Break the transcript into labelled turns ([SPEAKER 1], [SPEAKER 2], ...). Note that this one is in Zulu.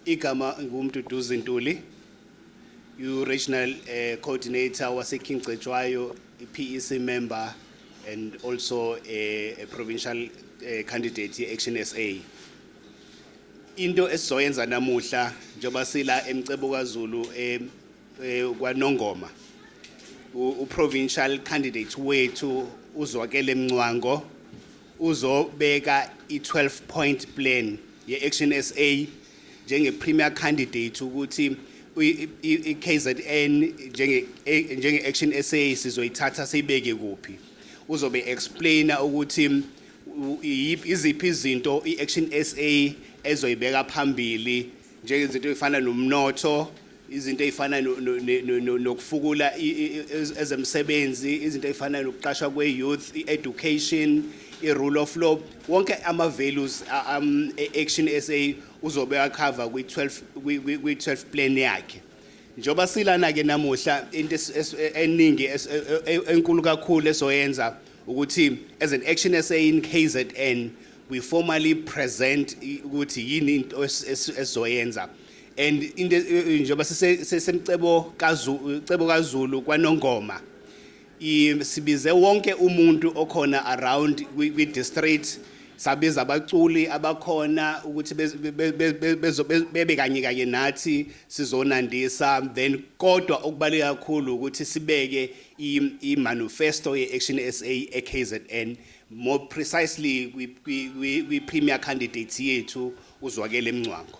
[SPEAKER 1] Igama nguMduduzi Ntuli, u-regional uh, coordinator waseKing Cetshwayo, i-PEC member and also a, a provincial uh, candidate ye-Action SA. Into esizoyenza namuhla njengoba sila emcebo kaZulu eh, eh kwaNongoma uprovincial candidate wethu uzwakele Mncwango Uzobeka i-12 point plan ye-Action sa njenge-premier candidate ukuthi i-KZN njenge-Action sa sizoyithatha siyibeke kuphi. Uzobe explaina ukuthi iziphi izinto i-Action sa ezoyibeka phambili njengezinto ey'fana nomnotho izinto ezifana nokufukula ezemsebenzi izinto ezifana nokuqashwa kwe-youth i-education i-rule of law wonke ama-values um, e-action sa uzobe akhava kwi-12 plan yakhe njengoba silana-ke namuhla into eningi e, e, e, enkulu kakhulu esoyenza ukuthi as an action sa in kzn we formally present ukuthi yini into esizoyenza es, and into eh, eh, njengoba sisemcebo kaZulu cebo kaZulu kwanongoma sibize wonke umuntu okhona around kwi district sabiza abaculi abakhona ukuthi bebe kanye kanye nathi sizonandisa then kodwa okubaluleke kakhulu ukuthi sibeke i-manifesto ye-action s a e-kzn more precisely kwi-premier candidates yethu uzwakele emncwango